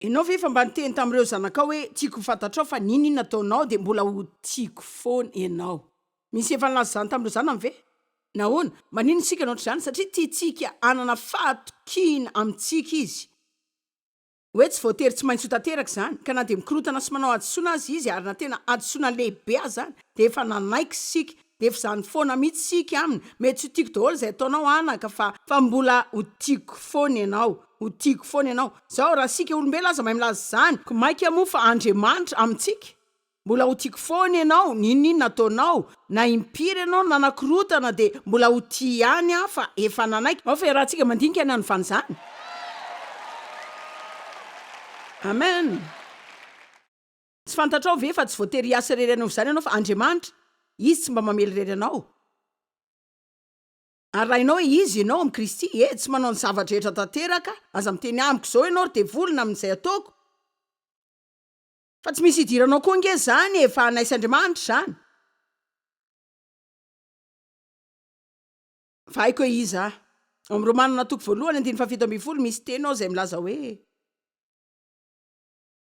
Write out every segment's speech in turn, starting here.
Enao ve efa mba niteny tamin'ireo zanakao hoe tiako ho fantatrao fa n'inon'inona ataonao dia mbola ho tiako foana ianao? Misy efa nilaza izany tamin'ireo zanany ve? Nahoana? Maninona isika no ohatr'izany? Satria tiantsika hanana fahatokiana amintsika izy hoe tsy voatery tsy maintsy ho tanteraka izany, ka na dia mikorotana sy manao hadisoana aza izy, ary na tena hadisoana lehibe azany, dia efa nanaiky isika Dia efa zany foana mitsy sic aminy, mety tsy ho tiako daholo zay ataonao anaka fa fa mbola ho tiako foana ianao, ho tiako foana ianao, zao raha sika olombelona aza mahay milaza zany ko maika moa fa Andriamanitra amintsika, mbola ho tiako foana ianao n'inon'inona ataonao, na impiry ianao nanakorotana dia mbola ho tia ihany aho fa efa nanaiky, ao fa iarahantsika mandinika ny hanovana izany. Amen. Tsy fantatrao ve fa tsy voatery hiasa irery hanaova izany ianao fa Andriamanitra, Izy tsy mba mamely irery anao. Arahinao hoe Izy ianao amin'i Kristy, ee, tsy manao ny zava-drehetra tanteraka, aza miteny amiko izao ianao ry devoly na amin'izay ataoko, fa tsy misy hidiranao koa ange izany e, fa anaiz' Andriamanitra izany, fa haiko hoe iza aho. Ao amin'ny Romanina toko voalohany andininy fahafito ambin'ny folo misy teny ao izay milaza hoe.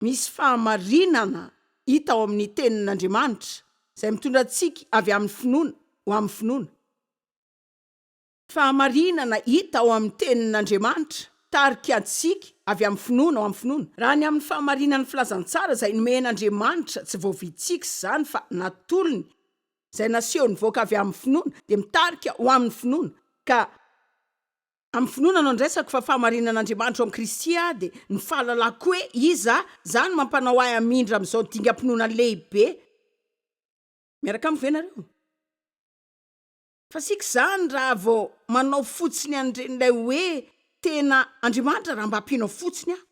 Misy fahamarinana hita ao amin'ny Tenin'Andriamanitra izay mitondra antsika avy amin'ny finoana ho amin'ny finoana. Fahamarinana hita ao amin'ny Tenin'Andriamanitra mitarika antsika avy amin'ny finoana ho amin'ny finoana. Raha ny amin'ny fahamarinan'ny Filazantsara izay nomen'Andriamanitra, tsy voavitsiky izany fa natolony, izay naseho nivoaka avy amin'ny finoana, dia mitarika ho amin'ny finoana, ka. Amin'ny finoana no andraisako fa fahamarinan'Andriamanitra ao amin'i Kristy aho dia ny fahalalako hoe Iza aho, izany no mampanao ahy hamindra amin'izao dingam-pinoana lehibe. Miaraka amiko ve ianareo? Fasiaka izany raha vao manao fotsiny an'ireny ilay hoe tena Andriamanitra raha mba ampianao fotsiny aho.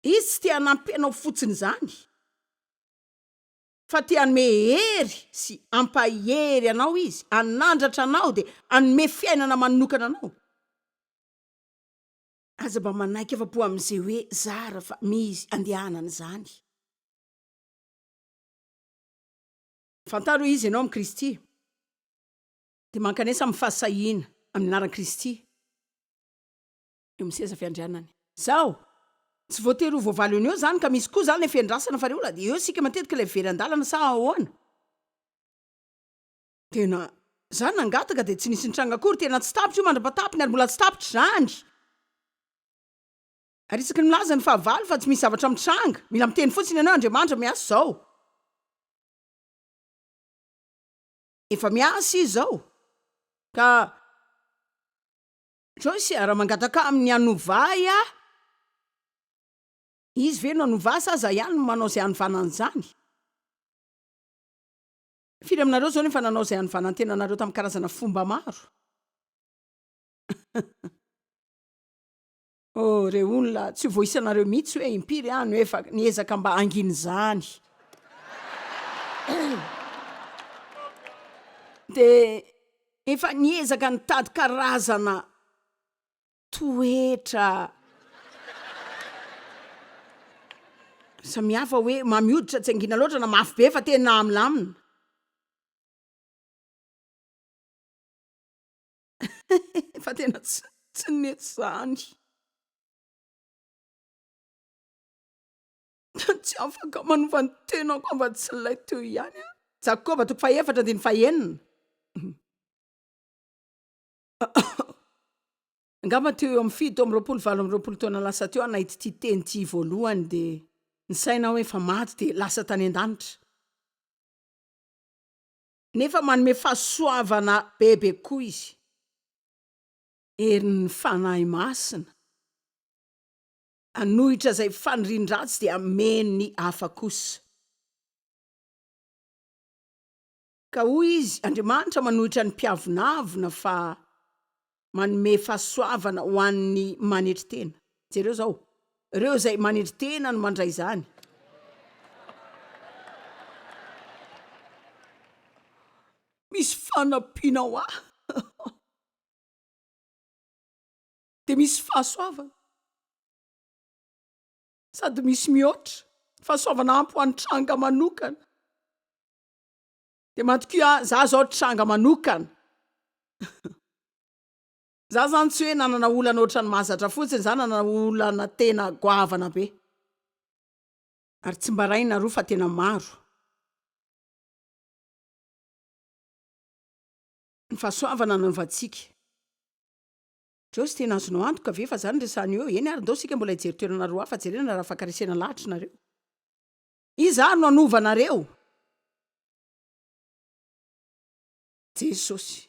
Izy tsy te-hanampy anao fotsiny izany. fa te hanome hery sy ampahery anao izy, hanandratra anao dia hanome fiainana manokana anao. Aza mba manaiky afa-po amin'izay hoe zara fa misy andehanana izany. Fantaro hoe iza ianao amin'i Kristy, dia mankanesa amin'ny fahasahiana amin'ny anaran'i Kristy. eo amin'ny seza fiandrianany. Zao! Tsy voatery ho voavaly eo no eo zany ka misy koa zany le fiandrasana fa reola eo sika matetika ilay very andalana sa ahoana? Tena za nangataka dia tsy nisy nitranga akory, tena tsy tapitra io mandrapatapiny ary mbola tsy tapitra izany! Ary isaky ny milaza ny fahavalo fa tsy misy zavatra mitranga, mila miteny fotsiny ianao Andriamanitra miasa izao! Efa miasa Izy izao ka. Joyce a, raha mangataka aminy hanova ahy aho, izy ve no hanova ahy sa za ihany no manao izay hanovana an'izany? Firy aminareo izao no efa nanao izay hanovana ny tenanareo tamin'ny karazana fomba maro? Oh, re olona, tsy ho voaisanareo mihitsy hoe impiry aho no efa niezaka mba hangina izany. Dia Efa niezaka nitady karazana toetra samihafa hoe mamy hoditra tsy angina loatra na mafy be fa tena milamina. Fa tena tsy tsy nety izany. Tsy afaka manova ny tenako afa-tsy ilay teo ihany aho. Jakoba toko fahefatra andiny fahenina. Angamba teo eo amin'ny fito amin'ny roapolo valo amin'ny roapolo taona lasa teo aho nahita ity teny ity voalohany dia ny saina hoe efa maty dia lasa tany an-danitra. Nefa manome fahasoavana bebe koa izy. Herin'ny fanahy masina. Hanohitra izay fanirian-dratsy dia hameno ny hafa kosa. Ka hoy izy, Andriamanitra manohitra ny mpiavonavona fa manome fahasoavana ho an'ny manetry tena. Jereo izao, ireo izay manetry tena no mandray izany. Misy fanampiana ho ahy. dia misy fahasoavana sady misy mihoatra fahasoavana ampy ho an'ny tranga manokana dia matoky ah za zao tranga manokana za zany tsy hoe nanana olana ohatrany mahazatra fotsiny za nanana olana tena goavana be ary tsy mba raina roa fa tena maro ny fahasoavana nanaovantsika Joyce tena azonao antoka ve fa zany resahany eo? Eny ary ndao sika mbola hijery toerana roa hafa jerena raha afaka resena lahatry nareo. Iza ary no hanova anareo? Jesosy.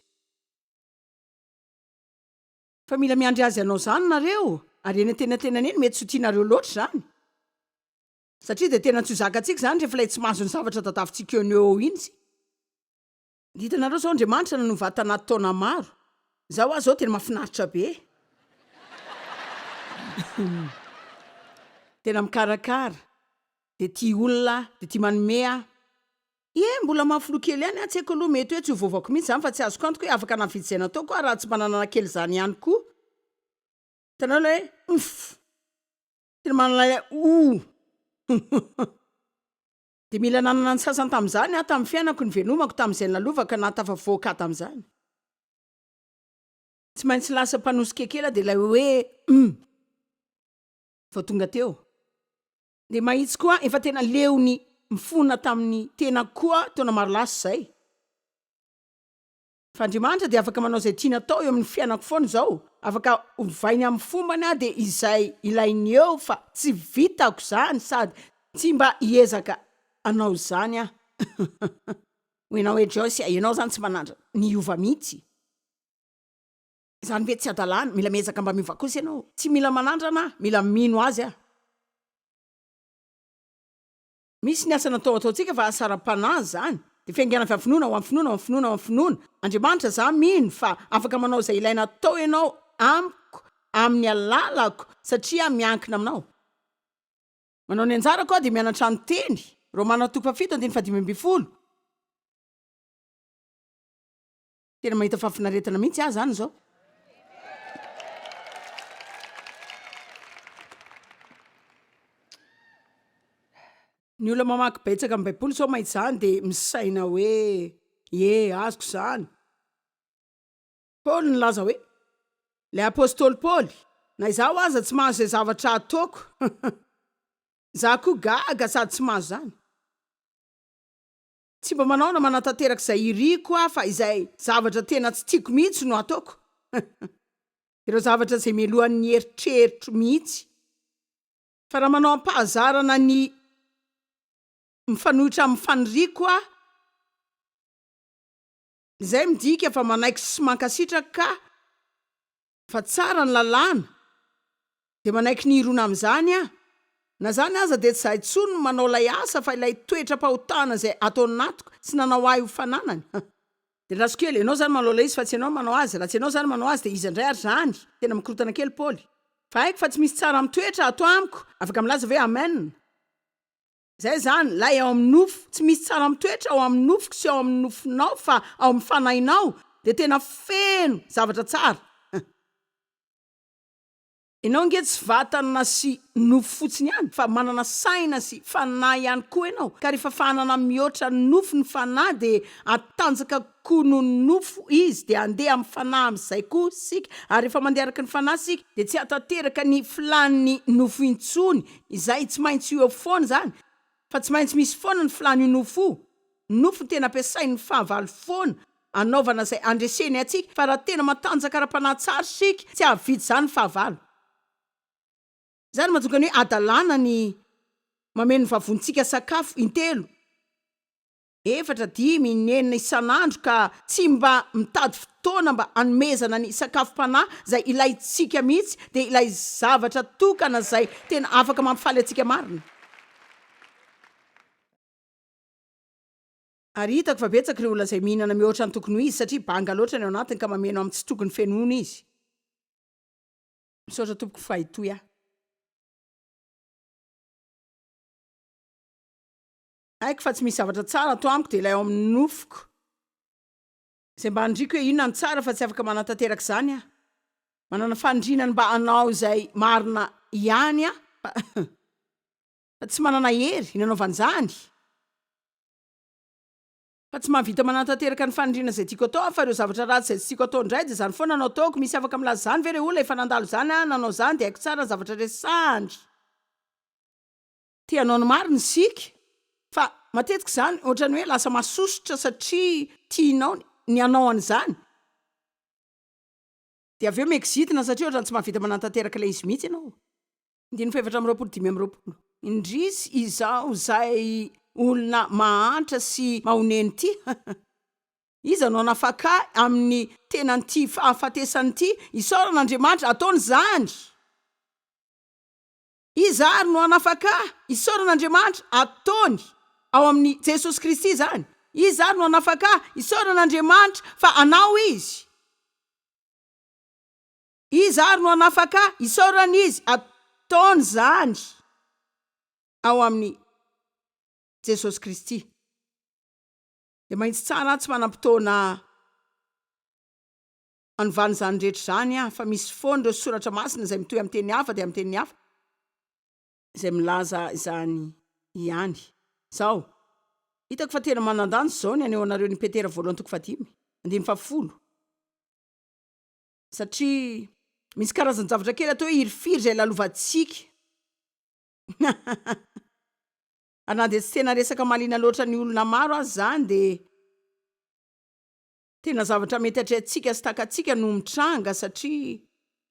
Fa mila miandry Azy hanao zany nareo, ary eny antenatenany eny mety tsy ho tianareo loatra zany. Satria dia tena tsy ho zakantsika zany rehefa ilay tsy mahazo ny zavatra tadavintsika eo no eo iny isika. Dia hitanareo zao Andriamanitra nanao vata anaty taona maro. Za hoa zao tena mafinaritra be. Tena mikarakara. Dia tia olona aho, dia tia manome aho. Ie, mbola mahafiloha kely ihany aho, tsy haiko aloha, mety hoe tsy ho voavaoko mihitsy izany fa tsy azoko antoka hoe afaka nahavita izay nataoko aho raha tsy mba nanana kely izany ihany koa. Hitanareo ilay hoe umph. Tena manana ilay ouh. Dia mila nanana ny sasany tamin'izany aho tamin'ny fiainako, novelomako tamin'izay nalovako ka nahatafavoaka ahy tamin'izany. Tsy maintsy lasa mpanosikekela dia ilay hoe humm vao tonga teo. Dia mahitsy koa efa tena leon'ny mifona tamin'ny tenako koa taona maro lasa izay. Fa Andriamanitra dia afaka manao izay tiany atao eo amin'ny fiainako foana izao, afaka ovainy amin'ny fombany aho dia izay ilainy eo fa tsy vitako izany sady tsy mba hiezaka hanao izany aho. Hoy ianao hoe Joyce a, ianao izany tsy manandrana ny hiova mihitsy. Izany ve tsy hadalana, mila miezaka mba miova kosa ianao. Tsy mila manandrana aho, mila mino Azy aho. Misy ny asa natao ataontsika fa asa ara-panahy izany. Dia fiaingana avy amin'ny finoana ho amin'ny finoana ho amin'ny finoana ho amin'ny finoana. Andriamanitra, izaho mino fa afaka manao izay ilaina atao Ianao amiko, amin'ny alalako, satria miankina Aminao. Manao ny anjarako aho dia mianatra ny Teny. Romana toko fahafito andininy fahadimy ambin'ny folo. tena mahita fahafinaretana mihitsy ah zany zao ny olona mamaky betsaka am baiboly zao mahita zany de misaina hoe e azoko zany paoly ny laza hoe le apostoly paoly na izaho aza tsy mahazo zay zavatra ataoko za koa gaga sady tsy mahazo zany Tsy mba manao na manatanteraka izay iriko aho fa izay zavatra tena tsy tiako mihitsy no ataoko. Ireo zavatra izay melohan'ny eritreritro mihitsy. Fa raha manao am-pahazarana ny mifanohitra amin'ny faniriako aho, izay midika fa manaiky sy mankasitraka ka fa tsara ny lalàna dia manaiky ny hirona amin'izany aho, na izany aza dia tsy izaho intsony no manao ilay asa fa ilay toetram-pahotana izay ato anatiko tsy nanao ahy ho fananany, ha! Dia andraso kely, ianao izany manao ilay izy fa tsy ianao no manao azy, raha tsy ianao izany manao azy dia iza indray ary izany? tena mikorotana kely Paoly, fa haiko fa tsy misy tsara mitoetra ato amiko, afaka milaza ve amen? Izay izany, ilay ao amin'ny nofo. Tsy misy tsara mitoetra ao amin'ny nofoko sy ao amin'ny nofonao fa ao amin'ny fanahinao dia tena feno zavatra tsara. Ianao ange tsy vatana sy nofo fotsiny ihany fa manana saina sy fanahy ihany koa ianao, ka rehefa fanana mihoatra ny nofo ny fanahy dia hatanjaka kokoa noho ny nofo izy dia handeha amin'ny fanahy amin'izay koa isika ary rehefa mandeha araka ny fanahy isika dia tsy hahatanteraka ny filàn'ny nofo intsony Izay tsy maintsy ho eo foana izany fa tsy maintsy misy foana ny filàn'io nofo io. Ny nofo no tena ampiasain'ny fahavalo foana anaovana izay andreseny antsika fa raha tena matanjaka ara-panahy tsara isika tsy hahavidy izany ny fahavalo. Izany no mahatonga ny hoe hadalana ny mameno ny vavontsika sakafo intelo. efatra, dimy, ny enina isan'andro ka tsy mba mitady fotoana mba hanomezana ny sakafom-panahy izay ilaintsika mihitsy dia ilay zavatra tokana izay tena afaka mampifaly antsika marina. Ary hitako fa betsaka ireo olona izay mihinana mihoatra ny tokony ho izy satria banga loatra ny ao anatiny ka mameno amin'ny tsy tokony fenoina izy. Misaotra tompoko fa hitohy aho. Haiko fa tsy misy zavatra tsara ato amiko dia ilay ao amin'ny nofoko izay mba aniriako hoe inona no tsara fa tsy afaka manatanteraka izany aho. Manana faniriana ny mba hanao izay marina ihany aho fa tsy manana hery nanaovana izany. Fa tsy mahavita manatanteraka ny faniriana izay tiako atao aho fa ireo zavatra ratsy izay tsy tiako atao indray dia izany foana no ataoko. Misy afaka milaza izany ve ilay olona efa nandalo izany na nanao izany dia haiko tsara ny zavatra resahany. Te hanao ny marina isika, fa matetika izany ohatran'ny hoe lasa masosotra satria tianao ny hanao an'izany, dia avy eo mi-exitina satria ohatran'ny tsy mahavita manantanteraka ilay izy mihitsy ianao. Andininy fahefatra amby roapolo dimy amby roapolo. Indrisy izaho izay olona mahantra sy mahonena ity, iza no hanafaka ahy amin'ny tenan'ity fahafatesana ity? Isaorana Andriamanitra, ataony izany! Iza ary no hanafaka ahy? Isaorana Andriamanitra, ataony ao amin'i Jesosy Kristy izany. Iza ary no hanafaka ahy? Isaorana Andriamanitra fa anao Izy. Iza ary no hanafaka ahy? Isaorana Izy, ataony izany ao amin'i Jesosy Kristy. Dia mahitsy tsara aho tsy manam-potoana Anovana izany rehetra izany fa misy foana ireo soratra masina izay mitohy amin'ny teny hafa dia amin'ny teny hafa izay milaza izany ihany. Izao, hitako fa tena manan-danja izao ny haneho anareo ny Petera voalohany toko fahadimy andininy fahafolo satria misy karazan-javatra kely atao hoe hirifiry izay lalovantsika ary na dia tsy tena resaka mahaliana loatra ny olona maro aza izany dia Tena zavatra mety atrehantsika sy takatsika no mitranga satria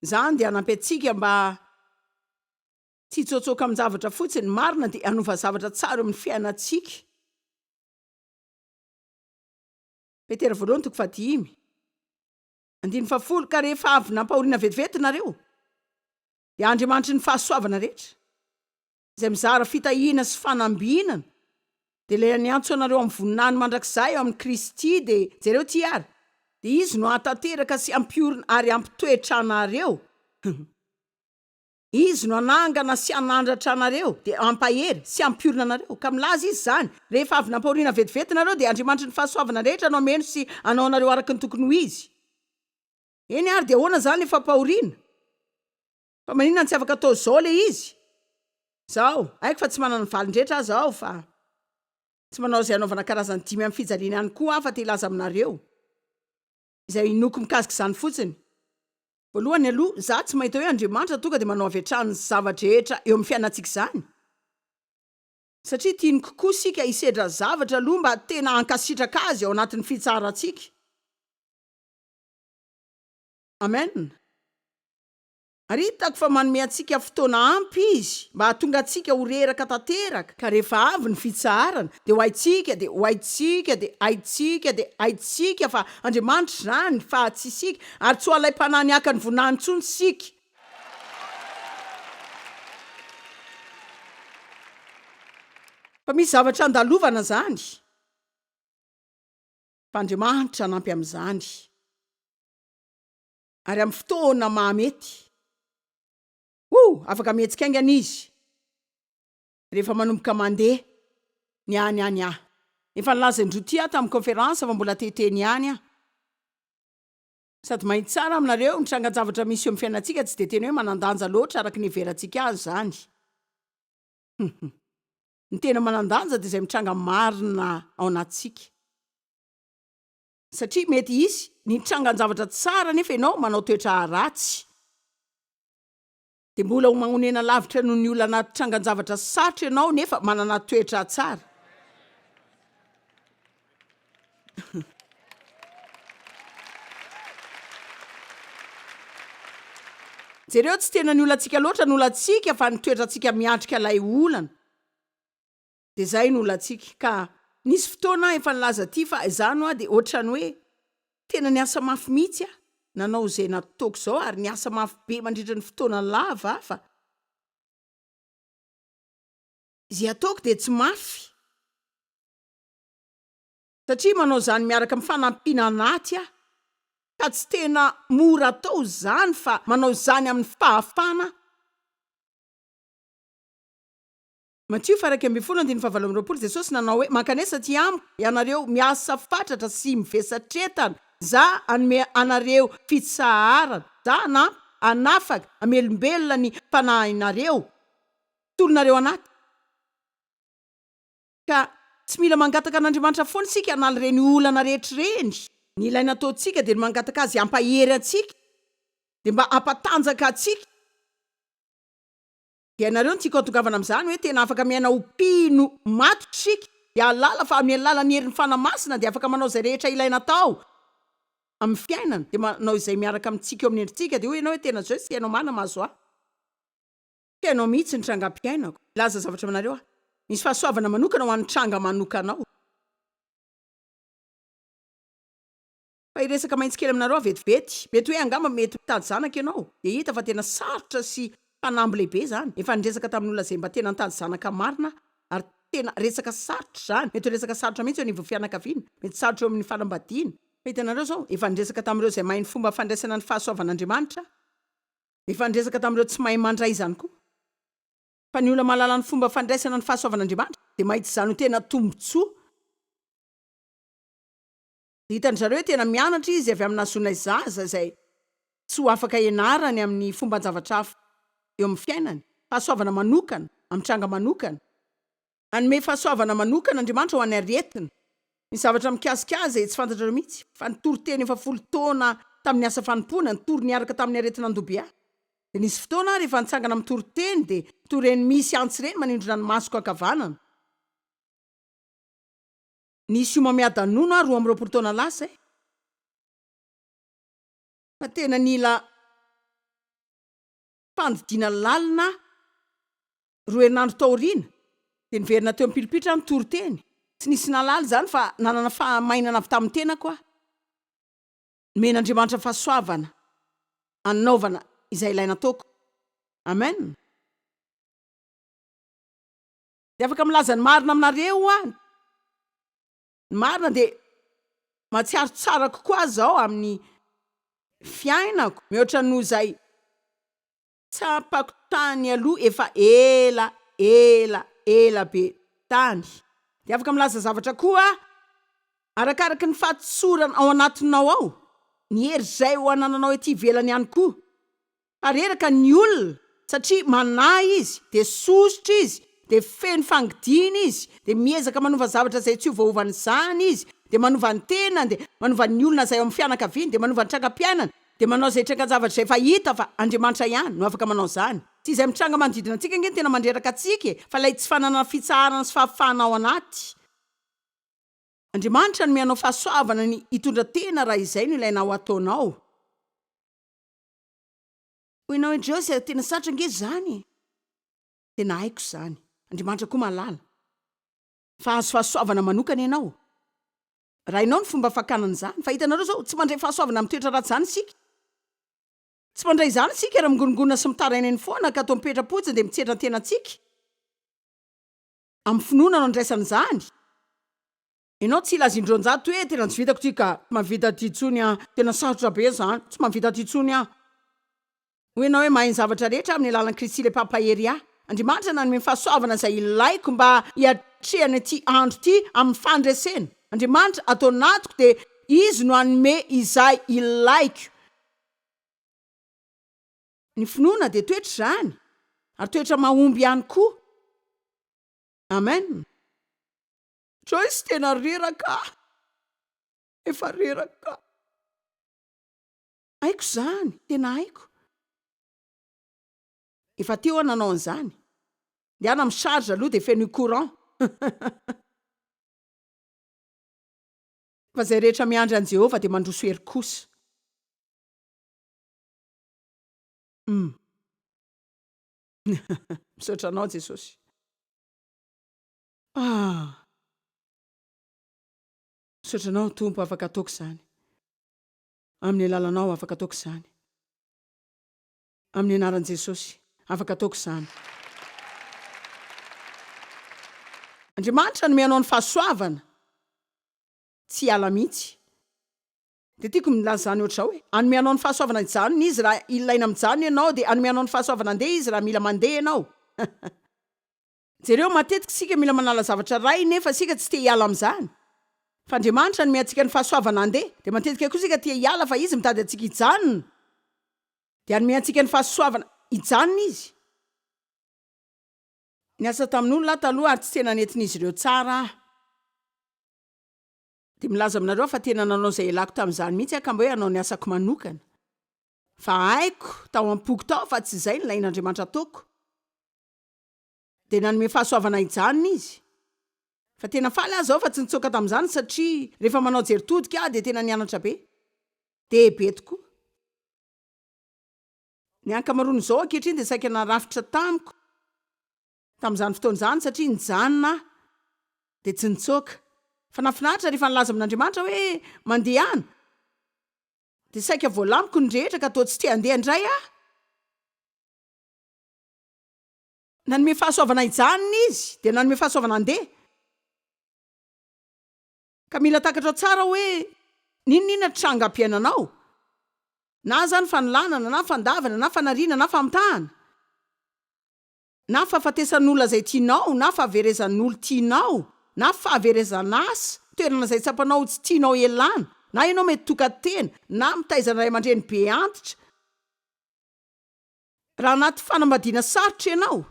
izany dia hanampy antsika mba tsy hitsôtsôka amin-javatra fotsiny. Ny marina dia hanova zavatra tsara eo amin'ny fiainantsika. Petera voalohany toko fahadimy andininy fahafolo, Ka rehefa avy nampahoriana vetivety nareo, dia Andriamanitry ny fahasoavana rehetra, izay mizara fitahiana sy fanambinana, dia ilay niantso anareo amin'ny voninahiny mandrakizay ao amin'i Kristy, dia jereo ity ary, dia Izy no hahatanteraka sy hampiorina ary hampitoetra anareo, Izy no hanangana sy hanandratra anareo, dia hampahery sy hampiorina anareo, ka milaza Izy izany, rehefa avy nampahoriana vetivety nareo, dia Andriamanitry ny fahasoavana rehetra no hameno sy hanao anareo araka ny tokony ho izy. Eny ary, dia ahoana izany ilay fampahoriana? Fa maninona tsy afaka atao zao le izy? Zaho, haiko fa tsy manana ny valin-drehetra aza aho fa tsy manao izay anaovana karazany dimy amin'ny fijaliana ihany koa aho fa te hilaza aminareo izay inoako mikasika izany fotsiny. Voalohany aloha, za tsy mahita hoe Andriamanitra tonga dia manao avy hatrany ny zava-drehetra eo amin'ny fiainantsika izany. Satria tiany kokoa isika hisedra zavatra aloha mba tena hankasitraka Azy ao anatin'ny fitsaharantsika. Amen. Ary hitako fa manome antsika fotoana ampy Izy mba hahatonga antsika ho reraka tanteraka, ka rehefa avy ny fitsaharana dia ho haintsika, dia ho haintsika, dia haintsika, dia haintsika fa Andriamanitra izany, fa tsy isika, ary tsy ho alaim-panahiny haka ny voninahiny intsony isika. Fa misy zavatra handalovana izany, fa Andriamanitra hanampy amin'izany. Ary amin'ny fotoana mahamety. Oh, afaka mihetsika haingana izy rehefa manomboka mandeha ny any any aho. Efa nilaza indroa ity aho tamin'ny kaonferansa fa mbola te-hiteny ny any aho. Sady mahita tsara aminareo, ny trangan-javatra misy eo amin'ny fiainantsika tsy dia tena hoe manan-danja loatra araka ny iheverantsika azy izany. Huhum. Ny tena manan-danja dia izay mitranga marina ao anatintsika. Satria mety hisy ny trangan-javatra tsara nefa ianao manao toetra ratsy. Dia mbola ho magnonena lavitra noho ny olona anaty trangan-javatra sarotra ianao nefa manana toetra tsara. Jereo, tsy tena ny olantsika loatra no olantsika fa ny toetrantsika miatrika ilay olana. dia izay no olantsika ka nisy fotoana aho efa nilaza aty fa izany hoa dia ohatrany hoe tena niasa mafy mihitsy aho nanao izay nataoko izao ary niasa mafy be mandritra ny fotoana lava fa izay ataoko dia tsy mafy satria manao izany miaraka amin'ny fanampiana anaty aho ka tsy tena mora atao izany fa manao izany amin'ny fahafana Matio faraika ambin'ny folo andininy fahavalo amby roapolo Jesosy nanao hoe, Mankanesa aty Amiko, ianareo miasa fatratra sy mivesatretana. Za hanome anareo fitsaharana. Za hanampy, hanafaka, hamelombelona ny fanahinareo. Tolonareo anaty. Ka tsy mila mangataka an'Andriamanitra foana isika hanala ireny olana rehetra ireny. Ny ilaina ataontsika dia ny mangataka Azy hampahery antsika, dia mba hampatanjaka antsika. Ianareo no tiako atongavana amin'izany hoe tena afaka miaina ho mpino maty isika, hialala fa amin'ny alalan'ny herin'ny Fanahy Masina dia afaka manao izay rehetra ilaina atao amin'ny fiainana, dia manao izay miaraka amintsika eo amin'ny endritsika, dia hoy ianao hoe tena zao tsy hainao marina mahazo ahy, tsy hainao mihitsy ny trangam-piainako, hilaza zavatra aminareo aho, misy fahasoavana manokana ho an'ny tranga manokanao. Fa hiresaka mahitsy kely aminareo aho vetivety. Mety hoe angamba mety mitady zanaka ianao, dia hita fa tena sarotra sy fanamby lehibe izany. Efa niresaka tamin'olona izay mba tena nitady zanaka marina aho, ary tena resaka sarotra izany. Mety ho resaka sarotra mihitsy eo anivon'ny fianakaviana, mety sarotra eo amin'ny fanambadiana. Fa hitanareo izao, efa niresaka tamin'ireo izay mahay ny fomba fandraisana ny fahasoavan'Andriamanitra aho. Efa niresaka tamin'ireo tsy mahay mandray izany koa. Fa ny olona mahalala ny fomba fandraisana ny fahasoavan'Andriamanitra dia mahita izany ho tena tombontsoa. Hitan-dry zareo hoe tena mianatra izy avy amin'ny nahazoanay zaza izay tsy ho afaka ianarany amin'ny fomban-javatra hafa eo amin'ny fiainany. Fahasoavana manokana, amin'ny tranga manokana. Hanome fahasoavana manokana Andriamanitra ho an'ny aretina. Ny zavatra mikasika azy tsy fantatrareo mihitsy, fa ny toriteny efa folo taona tamin'ny asa fanompoana, nitory niaraka tamin'ny aretin'andoha-bia. Dia nisy fotoana aho rehefa nitsangana mitory teny, dia toa ireny misy antsy ireny manindrona ny masoko ankavanana. Nisy homamiadanona aho roa amby roapolo taona lasa e! Fa tena nila fandidiana lalina aho. Roa herinandro taoriana, dia niverina teo am-pilipitra aho nitory teny. Tsy nisy nahalala izany fa nanana fahamainana avy tamin'ny tenako aho. Nomen'Andriamanitra fahasoavana hanaovana izay ilaina ataoko. Amen. Dia afaka milaza ny marina aminareo aho. Ny marina dia mahatsiaro tsara kokoa aza aho amin'ny fiainako mihoatra noho izay tsapako tany aloha efa ela, ela, ela be tany. Dia afaka milaza zavatra koa aho, arakaraky ny fahatsorana ao anatinao ao, ny hery izay ho anananao ety ivelany ihany koa. Reraka ny olona satria manahy izy, dia sosotra izy, dia feno fangidina izy, dia miezaka manova zavatra izay tsy hiovaova an'izany izy, dia manova ny tenany, dia manova ny olona izay ao amin'ny fianakaviany, dia manova ny trangam-piainany, dia manao izay trangan-javatra izay efa hita fa Andriamanitra ihany no afaka manao izany. Tsy izay mitranga manodidina antsika ange no tena mandreraka antsika e, fa ilay tsy fananana fitsaharana sy fahafahana ao anaty. Andriamanitra hanome anao fahasoavana ny hitondra tena raha izay no ilaina ho ataonao. Hoy ianao indreo izay tena sarotra ange izany e! Tena haiko izany, Andriamanitra koa mahalala fa hahazo fahasoavana manokana ianao raha hainao ny fomba fakana an'izany. Fa hitanareo izao, tsy mandray fahasoavana amin'ny toetra ratsy izany isika. Tsy mandray izany isika raha mingorongorona sy mitaraina eny foana ka toa mipetra-potsiny dia mitsetra ny tenantsika amin'ny finoana no andraisana izany. Enao tsy hila zindronjato hoe tena tsy vitako ty ka. Tsy mahavita ty tsony ah. Tena sarotra be zany. Tsy mahavita ty tsony ah. Hoy enao hoe mahay ny zavatra rehetra amin'ny alalan'i Kristy ilay Mpampahery ahy. Andriamanitra nanome ny fahasoavana izay ilaiko mba hiatrehana ity andro ity amin'ny fandresena. Andriamanitra ato anatiko dia Izy no hanome izay ilaiko. Ny finoana dia toetra izany ary toetra mahomby ihany koa. Amen. Joyce tena reraka ah! Efa reraka. Haiko izany, tena haiko. Efa teo aho nanao an'izany. Ndehana mi charge aloha dia fenoy courant. Fa izay rehetra miandry an'i Jehovah dia mandroso hery kosa. Umm. Misaotra anao Jesosy. Ah! Misaotra Anao Tompo afaka ataoko izany. Amin'ny alalanao afaka ataoko izany. Amin'ny anaran'i Jesosy afaka ataoko izany. Andriamanitra hanome anao ny fahasoavana tsy hiala mihitsy. Dia tiako ny milaza izany ohatr'izao hoe, hanome anao ny fahasoavana hijanona Izy raha ilaina mijanona ianao, dia hanome anao ny fahasoavana handeha Izy raha mila mandeha ianao. Jereo, matetika isika mila manala zavatra rainy nefa isika tsy te hiala amin'izany. Fa Andriamanitra hanome antsika ny fahasoavana handeha. Dia matetika koa isika te hiala fa Izy mitady antsika hijanona. Dia hanome antsika ny fahasoavana hijanona Izy. Niasa tamin'olona aho taloha ary tsy tena nentin'izy ireo tsara aho. Dia milaza aminareo aho fa tena nanao izay ialako tamin'izany mihitsy aho ka mba hoe hanao ny asako manokana. Fa haiko tao am-poko tao fa tsy izay no lain'Andriamanitra hataoko. Dia nanome fahasoavana hijanona izy. Fa tena faly aza aho fa tsy nitsoaka tamin'izany satria rehefa manao jery todika aho dia tena nianatra be. Dia be tokoa. Ny ankamaroan'izao ankehitriny dia saika narafitra tamiko tamin'izany fotoana izany satria nijanona aho dia tsy nitsoaka. Fa nahafinaritra rehefa nilaza amin'Andriamanitra aho hoe mandeha any dia saika voalamiko ny rehetra ka toa tsy te-handeha indray aho. Nanome fahasoavana hijanona Izy, dia nanome fahasoavana handeha. Ka mila takatrao tsara hoe n'inon'inona tranga ampiainanao, na izany fanolanana, na fandavana, na fanariana, na famitahana, na fahafatesan'olona izay tianao, na fahaverezan'olo tianao, na fahaverezan'asa, toerana izay tsapanao ho tsy tianao elana, na ianao mety tokan-tena, na mitaiza ny ray aman-dreny be antitra, Raha anaty fanambadiana sarotra ianao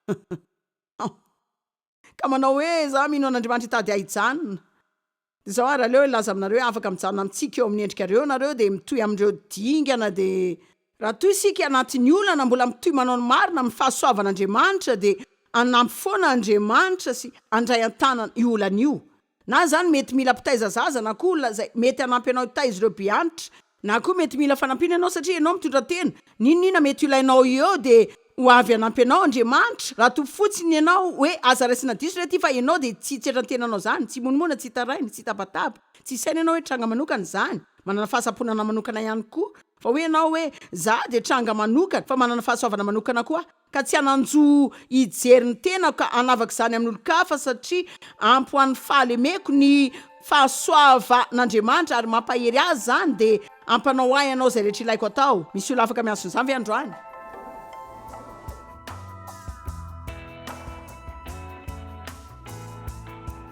hum ka manao hoe za mino an'Andriamanitra hitady ahy hijanona dia zao ary aleo hilaza aminareo hoe afaka mijanona amintsika eo amin'ny endrikareo nareo dia mitohy amin'ireo dingana dia Raha toa isika anatin'ny olana mbola mitohy manao ny marina amin'ny fahasoavan'Andriamanitra dia hanampy foana Andriamanitra sy handray an-tanana io olana io Na izany mety mila mpitaiza zaza na koa olona izay mety hanampy anao hitaiza ireo be antitra. Na koa mety mila fanampiana ianao satria ianao mitondra tena. N'inon'inona mety ho ilainao eo dia ho avy hanampy anao Andriamanitra. Raha toa fotsiny ianao hoe aza raisina diso re ity fa ianao dia tsy hitsetran tenanao izany, tsy himonomoana, tsy hitaraina, tsy hitabataba. Tsy isaina ianao hoe tranga manokana izany. Manana fahasamponana manokana ihany koa. Fa hoy ianao hoe za dia tranga manokana fa manana fahasoavana manokana koa aho. ka tsy hanan-jo hijery ny tenako ka hanavaka izany amin'olon-kafa, satria ampy ho an'ny fahalemeko ny fahasoavan'Andriamanitra, ary mampahery ahy izany, dia ampanao ahy Ianao izay rehetra ilaiko atao. Misy olona afaka miantso an'izany ve androany?